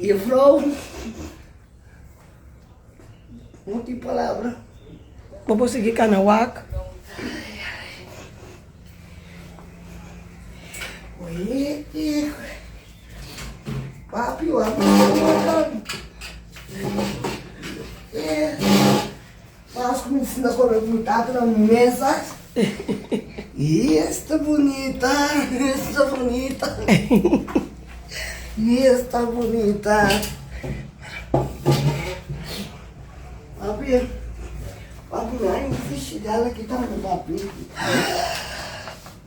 Juffrouw, no tin palabra. Bobo sigui cana wak. Papi, wak. Mas cu si nos come cu tata na un mesa, y esta bunita, esta bunita, y esta bunita. Papi, papi, mi hay un fish, ya la quitamos, papi.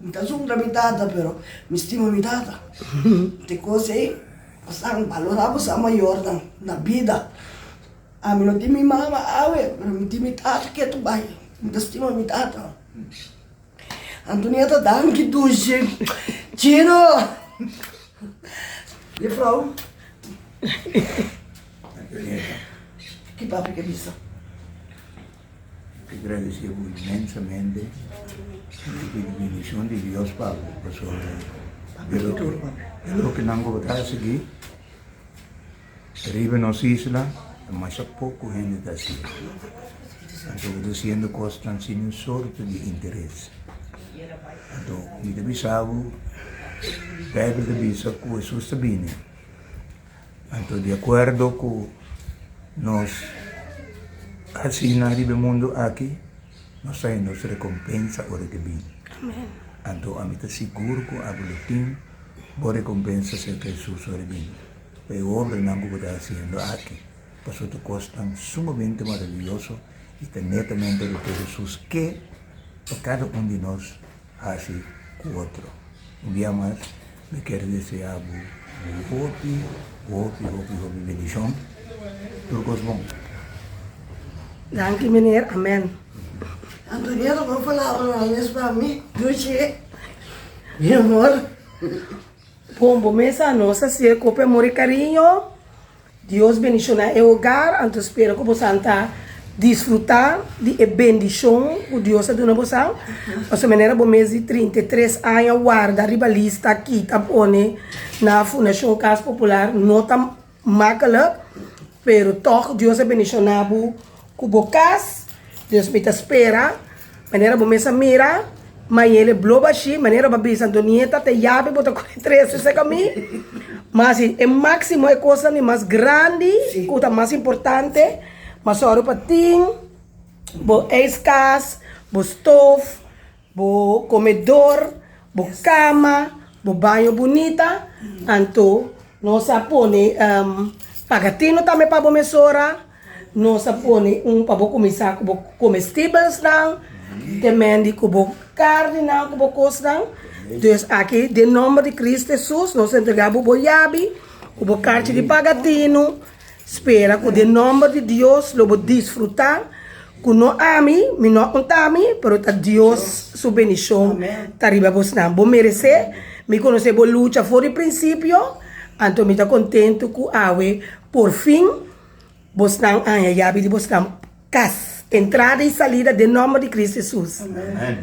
Mi ta zungra mi tata pero mi stima mi tata te cos ey pasan balora bo sa mayornan na bida ami no tin mi mama awe pero mi tin mi tata ke tu bay mi ta stima mi tata Antonia ta danki dushi chino Jefrou ki papi ke bisa. Te gradecé bo inmensamente y cu di bendición di Dios pa bo pasobra e loke e loke nan bo ta hacegui riba nos isla ta masha poco hende ta haciendo. Anto bo ta haciendo cosnan sin un sorto di interes. Anto mi ta bisa bo, Bijbel ta bisa cu Hesus ta bini. Anto di akuerdo ku nos a sina riba e mundu aki, nos ta hende nos rekompensa ora ke bini. Anto ami ta sigur ku a Buletin bo rekompensa serka Hesus ora e bini, pa e obranan ku bo ta hasiendo aki, pasobra ta kos tan sumamente maravioso i ta netamente ora ku Hesus ke pa kada un di nos. hasi ku otro. Un dia mas mi kier desea bo un hopi, hopi, hopi, hopi bendishon. Tur kos bon. Danki Meneer. Amen. Antonieta por palabra nan les pa mi duchi mi amor. Bon bo mesa nos a siye kope amor i kariño Dios bendiciona e hogar, anto spera cu bosan ta disfruta di e bendicion cu Dios a duna bosan. Pasobra manera bo mes di trinta i tres aña warda riba lista aki ta pone na Fundacion Cas Popular no ta makkelijk, pero tog Dios a bendiciona bo. Ku bo kas, dus mi ta spera, manera bo mes a mira, Mayele bloba ashi, manera bo a bisa Antonieta, te yabi bo ta kore trese serka mi, mas si e máksimo, e kosnan mas grandi, ku ta mas importante, m'a sòru pa tin bo eiskas, bo stof, Bo komedor, bo kama, bo baño bunita, anto nos a pone pagatino tambe pa bo mesora, nos a pone un pa bo kuminsá ku bo komestibelsnan, te mendi ku bo karninan ku bo kosnan. Dus aki den nòmber di Kris Hesus nos a entregá bo bo yabi ku bo karchi di pagatino. Spera ku den nòmber di Dios lo bo disfrutá ku no ami, mi no a untá mi, pero ta Dios su bendishon ta riba bosnan. Bo meresé, mi konosé bo lucha for di prinsipio, anto mi ta kontentu ku awe por fin bosnan a haña yabi di bosnan kas, entrada i salida den nòmber di Kris Hesus. Amen.